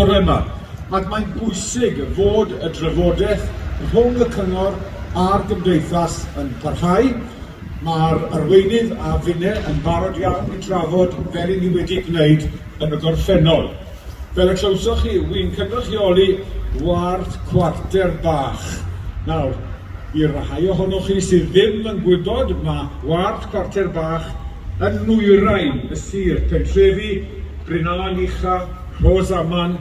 bore 'ma, ac mae'n bwysig fod y drafodaeth rhwng y cyngor a'r gymdeithas yn parhau. Mae'r arweinydd a finne yn barod iawn i drafod fel i ni wedi gwneud yn y gorffennol. Fel y clywsoch chi, wy'n cynrychioli ward Cwarter Bach. Nawr, i'r rhai ohonoch chi sydd ddim yn gwybod, mae ward Cwarter Bach yn nwyrain y sir, pentrefi Bryn Aen Ucha, Rhos Aman,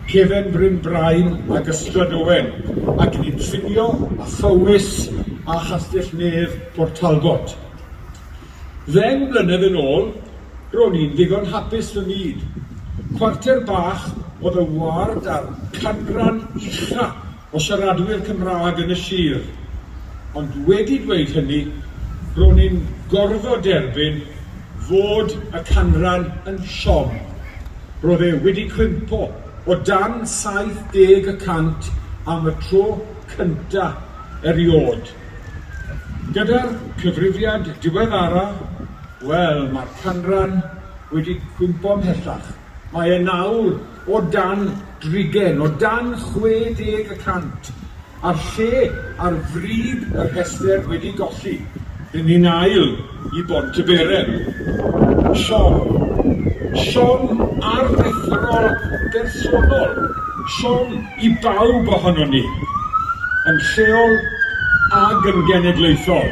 Cefen Bryn Brain ac Ystrad Owen, ac yn ei trinio â Phowys a Chastell-nedd Port Talbot. Ddeng mlynedd yn ôl, ro'n i'n ddigon hapus fy myd. Cwarter bach oedd y ward â'r canran ucha' o siaradwyr Cymraeg yn y sir, ond wedi dweud hynny, ro'n i'n gorfod derbyn fod y canran yn siom. Roedd e wedi cwympo o dan 70 y cant am y tro cynta eriôd. Gyda'r cyfrifiad diweddara, wel, mae'r canran wedi cwympo 'mhellach. Mae e nawr o dan drigen, o dan 60 y cant, a'r lle ar frig y rhestr wedi golli. Ry'n ni'n ail i Bontyberen. Siom. Siom aruthrol bersonol. Siom i bawb ohonon ni, yn lleol ag yn genedlaethol.